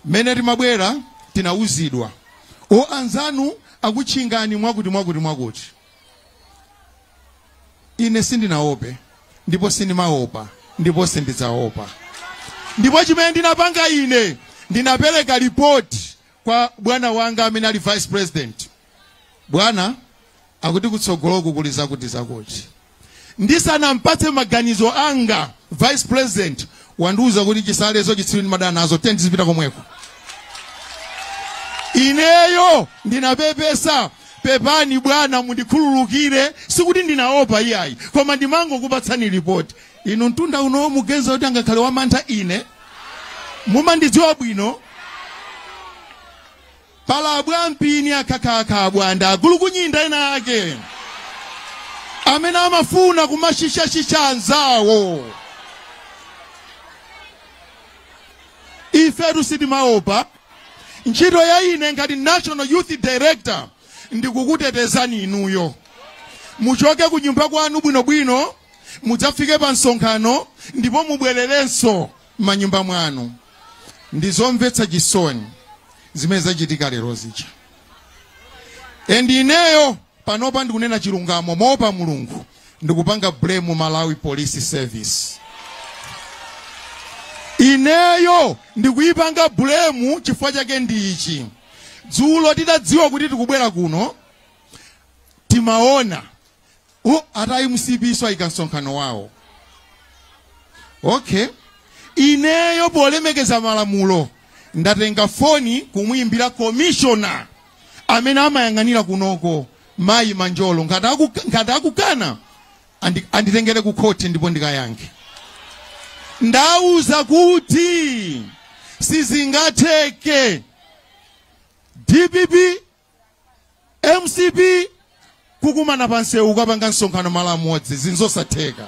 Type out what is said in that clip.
Mmene timabwera tinauzidwa, O, anzanu akutchingani mwakuti, mwakuti, mwakuti. Ine sindinaope, ndipo sindimaopa, ndipo sindidzaopa. Ndipo chimene ndinapanga ine, ndinapereka report kwa bwana wanga amene ali vice president, bwana akuti kutsogoloko kuli zakuti zakuti ndisanampatse maganizo anga vice president wandiuza kuti chisalezo chitsiru ndimadana nazo tiyeni tizipita komweko ineyo ndinapepesa pepani bwana mundikhululukire sikuti ndinaopa iyayi koma ndimangokupatsani ripoti inu mtunda unowo mugenza kuti angakhale wamantha ine mumandidziwa bwino Pali abwampini akhakhakha abwanda agulukunyinda ena ake amene amafuna kumashisha-shisha anzawo. Ifetu sitimaopa. Ntchito ya ine ngati National Youth Director ndikukutetezani inuyo. Muchoke kunyumba kwanu bwino-bwino, mudzafike pa msonkhano ndipo mubwererenso m'manyumba mwanu. Ndi zomvetsa chisoni zimene zachitika lero zija. And ineyo panopa ndikunena chilungamo moopa Mulungu ndikupanga blame Malawi Police Service. Ineyo ndikuyipanga blame chifukwa chake ndi ichi. Dzulo titadziwa kuti tikubwera kuno timaona oh, ati a mcp nso ayika msonkhano wawo okay ineyo polemekeza malamulo ndatenga foni kumuyimbira komishona amene amayang'anira kunoko mayi manjolo ngati akukana anditengere ku khoti ndipo ndikayankhe ndauza kuti sizingatheke dpp mcp kukumana pa msewu kukapanga msonkhano malo amodzi zimenezo nzosatheka